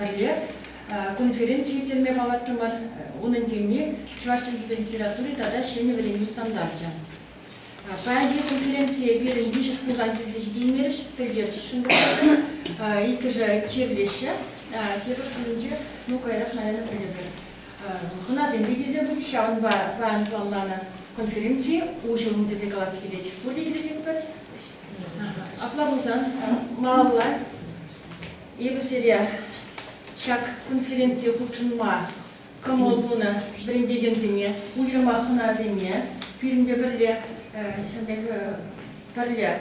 Пӗрле конференци ирттерме палӑртрӑмӑр. Унӑн теми чӑваш чӗлхипе литератури тата ҫӗнӗ вӗренӳ стандарчӗ. Паянхи конференцие пирӗн виҫӗ шкултан килсе ҫитеймерӗҫ, пӗлтерсшӗн пултӑр. Иккӗшӗ чирлеҫҫӗ. Тепӗр шкулӗнче, ну каярах, наверное, пӗлӗпӗр. Хӑнасем те килсе пычӗҫ, ҫавӑнпа план планланӑ конференци уҫӑлнӑ тесе калас килет. Пурте килӗшетпӗр. Апла пулсан малалла эпӗ сире ҫак конференцие хутшӑнма кӑмӑл тунӑ вӗрентекенсене, уйрӑма хӑнасене пирӗнпе пӗрле пӗрле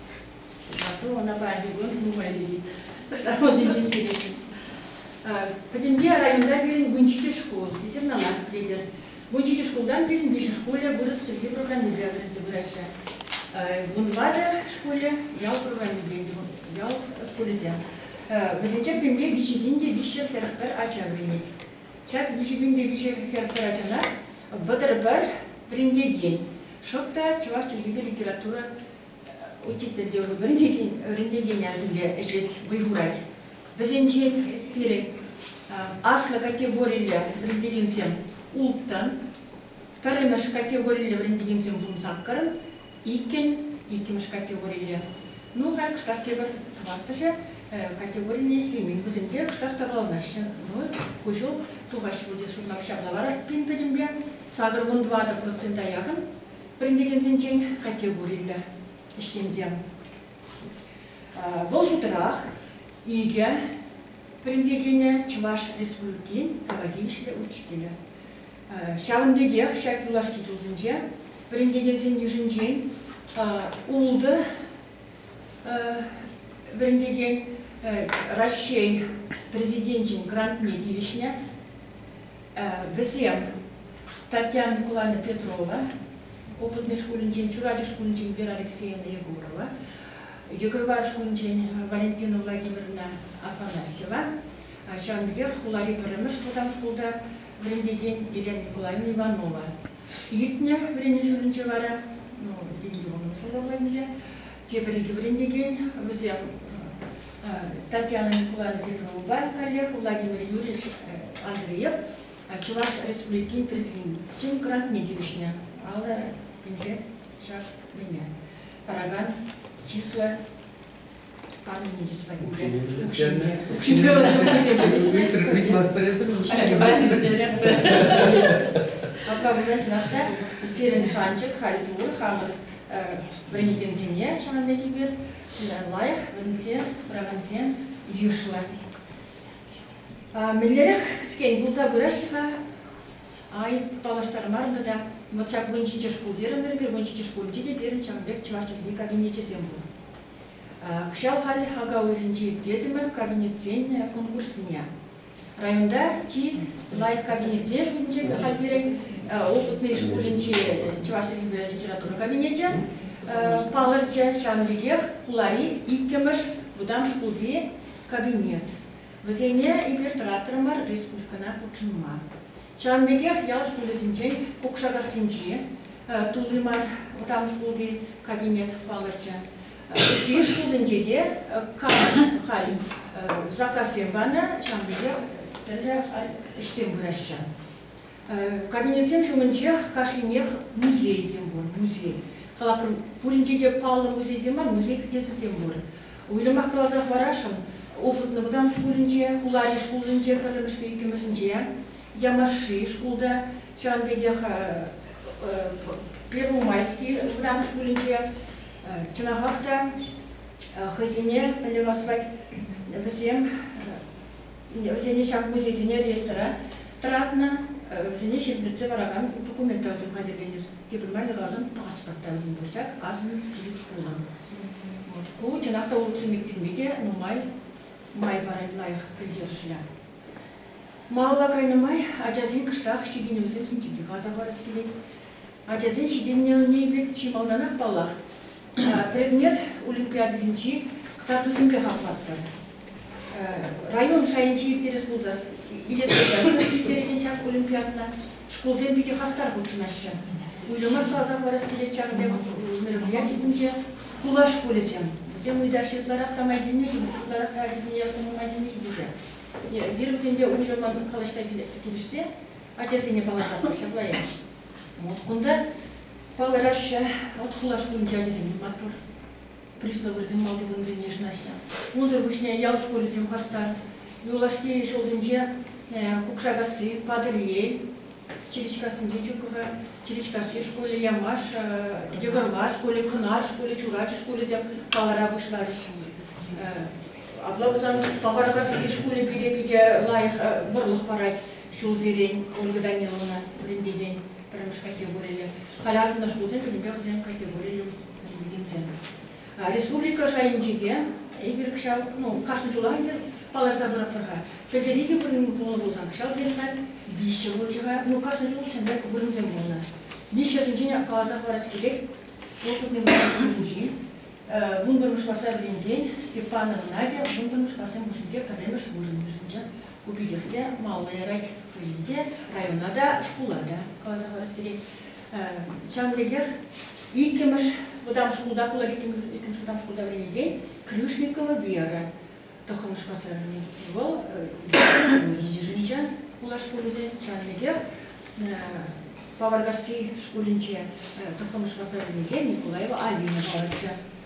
Ку ӑнапа антиквон нумай ҫитет. Шарлотинчен сирет. Пӗтӗмпе районта пирӗн вунҫичӗ шкул, ветеринарах килте. Вунҫичӗ шкултан пирӗн виҫӗ шкулӗ вырӑс чӗлхи программипе вӗренсе пыраҫҫӗ. Вун тӑватӑ шкулӗ ял программипе ял шкулӗсем. Вӗсенче пӗтӗмпе виҫӗ пин те виҫҫӗ хӗр пӗр ача вӗренет. Ҫак виҫӗ пин те виҫӗ хӗр пӗр ачана вӑтӑр пӗр вӗрентекен, шӑп та чӑваш чӗлхипе литература Учитель те вӗрентекен ячӗпе ӗҫлет, вӑй хурать. Вӗсенче пирӗн аслӑ категориллӗ вӗрентекенсем улттӑн, пӗрремӗш категориллӗ вӗрентекенсем тунсаккӑн, иккӗн, иккӗмӗш категорилле. Ну, халь кӑштах тепӗр тӑваттӑшӗ категорине ӗҫлемен. Вӗсем те кӑштах тӑкӑрланаҫҫӗ. Ну, ку ҫул тухаҫҫӗ пуль тесе шутлап. Ҫапла вара пин пӗтӗмпе сакӑр вун тӑватӑ процента якӑн вӗрентекенсенчен категориллӗ ӗҫченсем. Вӑл шутрах икӗ вӗрентекенӗ, Чӑваш Республикин тава тивӗҫлӗ учителӗ. Ҫавӑн пекех ҫак юлашки ҫулсенче вӗрентекенсен йышӗнчен ултӑ вӗрентекен Раҫҫей Президенчӗн грантне тивӗҫнӗ. Вӗсем Татьяна Микулановна Петрова, Опытный шкулӗнчен, Чурачӑк шкулӗнчен Вера Алексеевна Егорова, Йӑкӑрвар шкулӗнчен Валентина Владимировна Афанасьева, ҫавӑн пекех хулари пӗрремӗш вӑтам шкулта вӗрентекен Елена Николаевна Иванова иртнӗ вӗренӳ ҫулӗнче вара, ну, деньги вӑхӑтсӑрлӑх ӗнтӗ, тепӗр икӗ вӗрентекен, вӗсем Татьяна Николаевна Тетеровӑпа каллех Владимир Юрьевич Андреев Чӑваш Республикин Президентин грантне тивӗҫнӗ алӑ пинче ҫак мӗне паракан чыслӑ парнене чыслӑ Апла пулсан чӑнах та пирӗн шанчӑк халь пур хамӑр вӗрентекенсене ҫавӑн пекипе лайӑх вӗренсе пыракансем йышлӑ. Мӗнлерех кӗскен пулса пыраҫҫӗ-ха? Ай, паллаштармарӑм та. Вот ҫак вун ҫичӗ шкул терӗмӗр, пир вун ҫичӗ шкулӗнче те пирӗн ҫавӑн пек чӑваш чӗлхи кабинечӗсем пур. Кӑҫал халь ака уйӑхӗнче ирттертӗмӗр кабинетсен конкурсне. Районта чи лайӑх кабинетсен шутӗнче халь пирӗн опытный шкулӗнчи чӑваш чӗлхипе литература кабинечӗ палӑрчӗ. Ҫавӑн пекех хулари иккӗмӗш вӑтам шкулти кабинет. Вӗсене эпир тӑратрӑмӑр республикӑна хутшӑнма. Ҫавӑн пекех ял шкулӗсенчен Кукшакассинчи тулли мар вӑтам шкулти кабинет палӑрчӗ. Чӑваш ҫулсенче те кам хай заказсем панӑ, ҫавӑн пекех тӗрлӗ ӗҫсем пыраҫҫӗ. Кабинетсем ҫумӗнчех кашнинех музейсем пур. Музей. Калапӑр, пуринче те паллӑ музейсем мар, музей кӗтесӗсем пур. Уйрӑмах каласа хӑварасшӑн, улшӑннӑ вӑтам шкулӗнче, Хулари шкулсенче пӗрремӗшпе иккӗмӗшӗнче, Ямашши шкулта, ҫавӑн пекех Первомайски вӑтам шкулӗнче, Чӑнахах та хӑйсене пӗлӳ ӑспать вӗсем вӗсене ҫак музейсене реестра тӑратнӑ, вӗсене ҫирӗплетсе паракан документа асӑн хатӗрленӗ. Тепӗр майлӑ каласан паспорта асӑн пырсах асӑн ют хулан. Ку чӑнах та улӑхсем иртме те нумай май парать лайӑх пӗлтерӗшлӗ. Малалла кайнӑ май ачасен кӑштах ҫитӗнӗвӗсем ҫинчен те каласа парас килет. ачасен ҫитӗннӗ ӑнни пек чи малтанах, паллах, предмет олимпиадисенчи кӑтартусемпе хаклатпӑр. Район шайӗнче ирттерес пулсан, ирес пулсан ирттерекен ҫак олимпиадӑна шкулсем питӗ хастар хутшӑнаҫҫӗ. Уйрӑмах каласа хӑварас килет ҫакӑн пек мероприятисенче хула шкулӗсем. Вӗсем ыйтаҫҫӗ ытларах та май килнӗ-шим, ытларах та ҫитӗнессӗм нумай килнӗ-шим тесе. Эпир вӗсемпе уйрӑммӑн калаҫса килӗшсе ачасене палӑртатпӑр ҫапла е. Вот кунта палӑраҫҫӗ. Вот хулашкулӗнчи ачасем маттур. Приставсем малти вырӑнсене йышӑнаҫҫӗ. Унсӑр пуҫне ял шкулӗсем хастар. Юлашки ҫулсенче Кукшакасси, Патӑрьел, Чиричкассинче Чукова, Чиричкасси шкулӗ, Ямаш, Йӑкӑрва шкулӗ, Кӑнар шкулӗ, Чурачӑ шкулӗсем палӑра пуҫларӗҫ. Апла пулсан Паваркасси шкулӗ питӗ-питӗ лайӑх вӑрлӑх парать. ҫулсерен Ольга Даниловна вӗрентекен пӗрремӗш категориллӗ, халӗ асӑннӑ шкулсен пӗтӗмпех вӗсен категориллӗ вӗрентекенсем. Республика шайӗнче те эпир ҫав, ну, кашни ҫулах эпир палӑрса пыратпӑр-ха. Пӗлтӗр икӗ вырӑн пулнӑ пулсан, ҫав перинат виҫҫӗ пулчӗ-ха. Ну, кашни ҫул ҫӗнӗ вырӑнсем пулнӑ. Виҫҫӗшӗнчен каласа хӑварас килет, опытный вӗрентекенӗнчи вунпӗрмӗш класра вӗренекен Степанова Надя вунпӗрмӗш классем хушшинче пӗрремӗш вырӑн йышӑнчӗ. Ку питех те маллӑ ярать пулин те района та, шкула та каласа парас килет. Ҫавӑн пекех иккӗмӗш вӑтам шкулта, хула иккӗмӗш вӑтам шкулта вӗренекен Крюшникова Вера тӑххӑрмӗш класра вӗренет. Вӑл Нижничан хула шкулӗсен, ҫавӑн пекех Паваркасси шкулӗнче тӑххӑрмӗш класра вӗренекен Николаева Алина палӑрчӗ.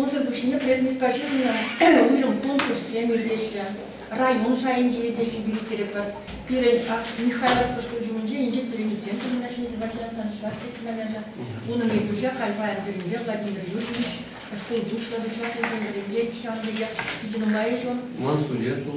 Унсӑр пуҫне предметпа ҫыхӑннӑ уйрӑм конкурссем иртеҫҫӗ. Район шайӗнче те ҫирӗплеттеретпӗр. Пирӗн Михайловка шкул ҫумӗнче Инҫет Пӗренесен сумлӑ ҫӗнӗ субботница чӑваш письменноҫӗ, унӑн ертӳҫи Хальпа Андрееве Владимир Юрьевич, шкул пуҫлӑхӗ чӑвашлисем пӗринчен ҫавӑн пекех питӗ нумай ҫул, Мансурету,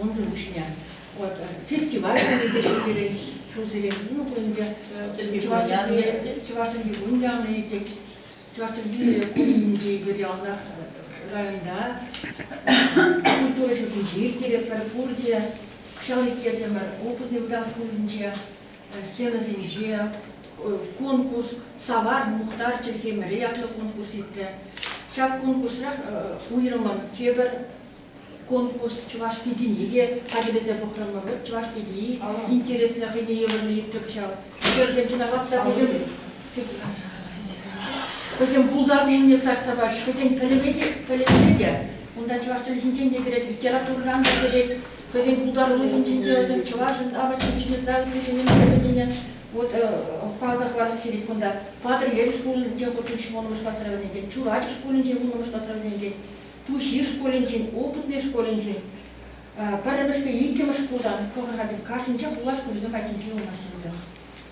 Унсӑр пуҫне вот фестиваль тени те ҫӳлерех ҫулсерех ну кунӗнче чӑваш чӗлхи чӑваш чӗлхи кун янӑ итек чӑваш чӗлхи кунӗнче пӗр ялтах районта культура ҫуртӗнче ирттеретпӗр пурте кӑҫал ирттертӗмӗр опытный вӑтам шкулӗнче сценӑсенче конкурс Савар мухтар чӗлхемӗрӗ ятлӑ конкурс иртрӗ. Ҫак конкурсрах уйрӑммӑн тепӗр конкурс чӑваш пикине те хатӗрлесе пӑхрӑмӑр. Вӑт чӑваш пикии интереслӗ хӑйне евӗрлӗ иртрӗк ҫав. Вӗсем чӑнахах та вӗсем вӗсем пултаруллине сарса пачӗҫ. Вӗсен пӗлӗве те, пӗлӗвне те унта чӑваш чӗлхинчен те кӗрет, литературӑран та кӗрет. хӑйсен пултарулӑхӗнчен те, чӑвашӑн апачӗн ҫине тӑраканнисене пӗлнине вот каласа хӑварас килет кунта. Патӑрьел шкулӗнче хутшӑнчӗ вуннӑмӗш класра вӗренекен, Чурачӑ шкулӗнче вуннӑмӗш класра вӗренекен, Туҫи шкулӗнчен, Опытнӑй шкулӗнчен, пӗрремӗш те иккӗмӗш шкултан, пӑхӑр-ха, каршӗнче хула шкулӗсем айккинче вырнаҫнӑ вӗсем.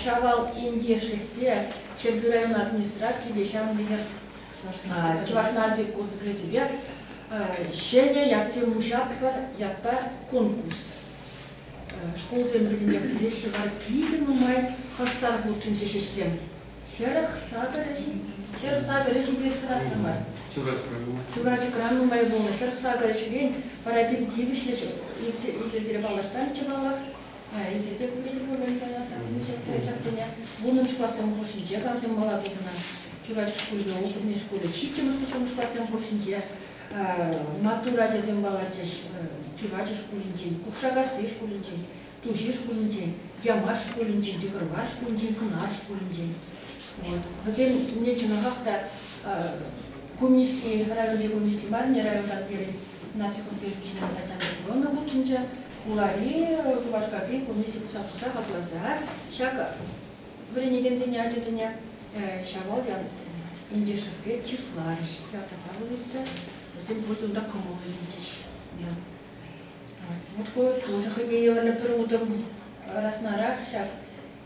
Ҫавал ентешлӗхпе Ҫӗрпӳ район администрацийӗпе ҫавӑн пекех Чӑваш наци курс-грамотипе ҫӗнӗ ятсем уҫатпӑр ятпа конкурс. Шкулсем пӗрле пыраҫҫӗ вара питӗ нумай хастар хутшӑнчӗҫ ӗҫсем. Хӗрӗх сакӑр ӗҫ, хӗр сакӑр ӗҫӗпе хӑратрӑмӑр. Чурачӑкран нумай пулнӑ хӗр сакӑр ӗҫрен пара пин тивӗҫлӗ ҫӗр. Иртсе паллаштарчӗ паллах. Ӗҫӗ те медикамент ярасах ҫак ачасене. Унӑн классем хушшинче камсем мала тухнӑ. Чурачӑк шкулӗн опытный шкулӗ ҫиччӗмӗш тухрӑм классем хушшинче маттур ачасем палӑрчӗҫ. Чурачӑк шкулӗнчен, Купшакасси шкулӗнчен, Туҫи шкулӗнчен, Ямаш шкулӗнчен, Тихӑрмар шкулӗнчен, Кӑнар шкулӗнчен. Вӗсем умне чӑнахах та комисси, районти комисси мар, районтан пирӗн наци конференцине Татьяна Петровна хутшӑнчӗ. Хулари, Шупашкарти кунти ҫутҫапҫӑка хакласа ҫакӑ вӗренекенсене, ачасене Ҫавал Ентешӗвре чысларӗҫ. Театрпа выляттӑм. Вӗсем пурте унта кӑмӑл илчӗҫ. Вот ку тоже хӑйпе евӗрлӗ пӗр утӑм раснарах ҫак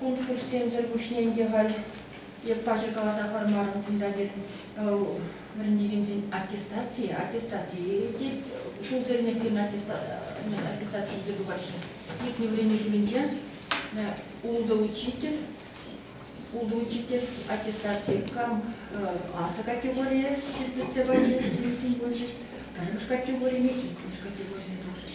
Конкурссемсӗр пуҫне ӗнтӗ халь эп паҫӑр каласа хӑармарӑм Элизабет вӗрентекенсен аттестацийӗ, аттестацийӗ те ҫулсерен ирткен аттестаци илсе тухаҫҫӗ. Иртнӗ вӗренӳ ҫумӗнче ултӑ учитель, ултӑ учитель аттестацие кам аслӑ категорие ҫитсе пачӗ, ҫитсе пычӗҫ, пӗрремӗш категорине, иккӗмӗш категорине тухрӗҫ.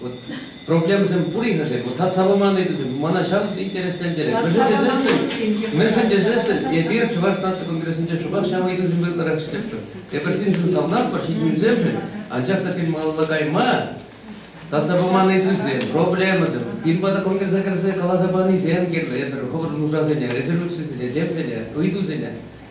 Вот проблемӑсем пур-и-ха-ши? Вот татса паман ыйтусем мана ҫав интереслентерет. Мӗншӗн тесессӗн, мӗншӗн тесессӗн эпир Чӑваш наци конгрессӗнче шӑпах ҫав ыйтусемпе ытларах ӗҫлетпӗр. Эпир синшӗн савнатпӑр, ҫитӗнӳсемшӗн, анчах та пин малалла кайма татса паман ыйтусем, проблемӑсем, пин пата конгреса кӗрсе каласа панисем кирлӗ. Эсӗр хӑвӑрӑн нушасене, резолюцисене, темсене, ыйтусене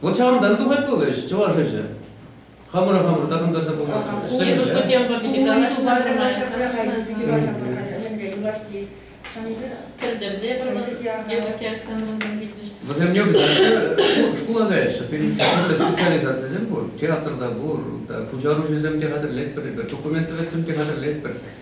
Вот ҫавӑнтан тухать пулӗ ӗҫ, чӑваш ӗҫӗ. Хамӑра-хамӑр такӑнтарса пулмасть. Ку темпа питӗ канаҫна юлашки Тӗлдерте Вӗсем yok шкулан каяҫҫӗ. Перекетка специализацисем пур. Театрда пур, пуҫаруҫӑсем те хатӗрлетпӗр, документ тӗветсем те хатӗрлетпӗр.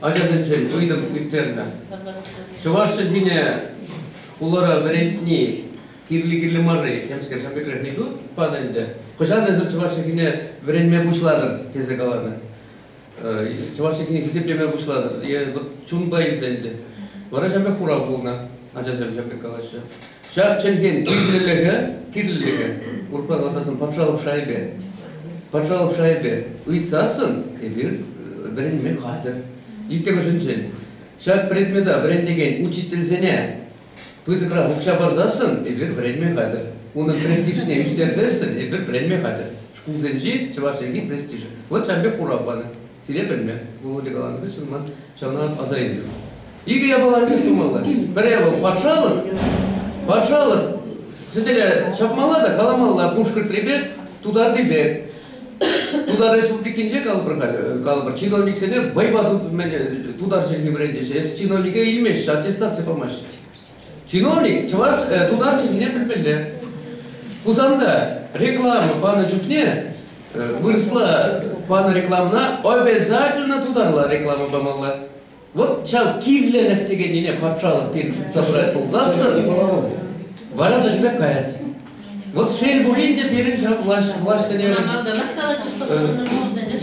ачасенчен ыйтӑм ирттернӗ. Чӑваш чӗлхине хулара вӗрентни кирли кирли мар-и? Темскер шапикрех не тут пан ӗнтӗ. Хӑҫан эсир чӑваш чӗлхине вӗренме пуҫлатӑр? тесе каланӑ. Чӑваш чӗлхине хисеплеме пуҫлатӑр. Е вот чунпа илсе ӗнтӗ. Вара ҫапах хурав пулнӑ. Ачасем ҫапах калаҫҫӗ. Ҫак чӗлхен кирлӗлӗхӗ, кирлӗлӗхӗ, урӑхла каласассӑн патшалӑх шайӗпе, патшалӑх шайӗпе ыйтсассӑн эпир вӗренме хатӗр. Иккӗмӗшӗнчен, ҫак предмета вӗрентекен учительсене пысӑкрах укҫа парсассӑн эпир вӗренме хатӗр. Унӑн престижне ӳстерсессӗн эпир вӗренме хатӗр. Шкулсенчи чӑваш чӗлхи престижӗ. Вот ҫавӑн пек хурав панӑ. Сире пӗлме, Володя каланӑ хыҫҫӑн ман ҫавна аса илтӗм. Икӗ япала тӗл пулмалла. Пӗрре вӑл патшалӑх. Патшалӑх сӗтеле ҫапмалла та каламалла пушкӑртрипе тутарнипе. Тутар Республикинче калӑпӑр халӗ, калӑпӑр чиновниксене вӑйпа тутар чӗлхи вӗрентеҫҫӗ. Эс чиновнике илмеҫҫӗ, аттестаци памаҫҫӗ. Чиновник чӑваш э, тутар чӗлхине пӗлмелле. Хусанта реклама панӑ чухне э, вырӑсла панӑ рекламӑна обязательно тутарла реклама памалла. Вот ҫав кирлӗлӗх текеннине патшалӑх пирки тытса пырать пулсассӑн, вара та тебя каять. Вот шел пулин те пирӗн ҫав влаҫ, влаҫ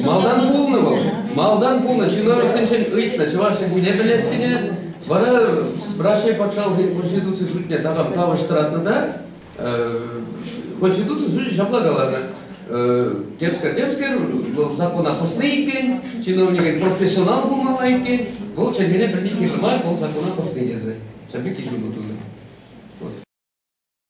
Малтан пулнӑ вӑл, малтан пулнӑ, чиновниксенчен ыйтнӑ чӑваш чӗлхине пӗлессине, вара Раҫҫей патшалӑх конституци судне такам тавӑҫтӑратнӑ та конституци суде ҫапла каланӑ темскер темскер вӑл закона пӑснӑ иккен, чиновникӗн профессионал пулмалла иккен, вӑл чӗлхене пӗлни кирлӗ мар, вӑл закона пӑсни тесе. Ҫав пирки ҫутӑ тунӑ.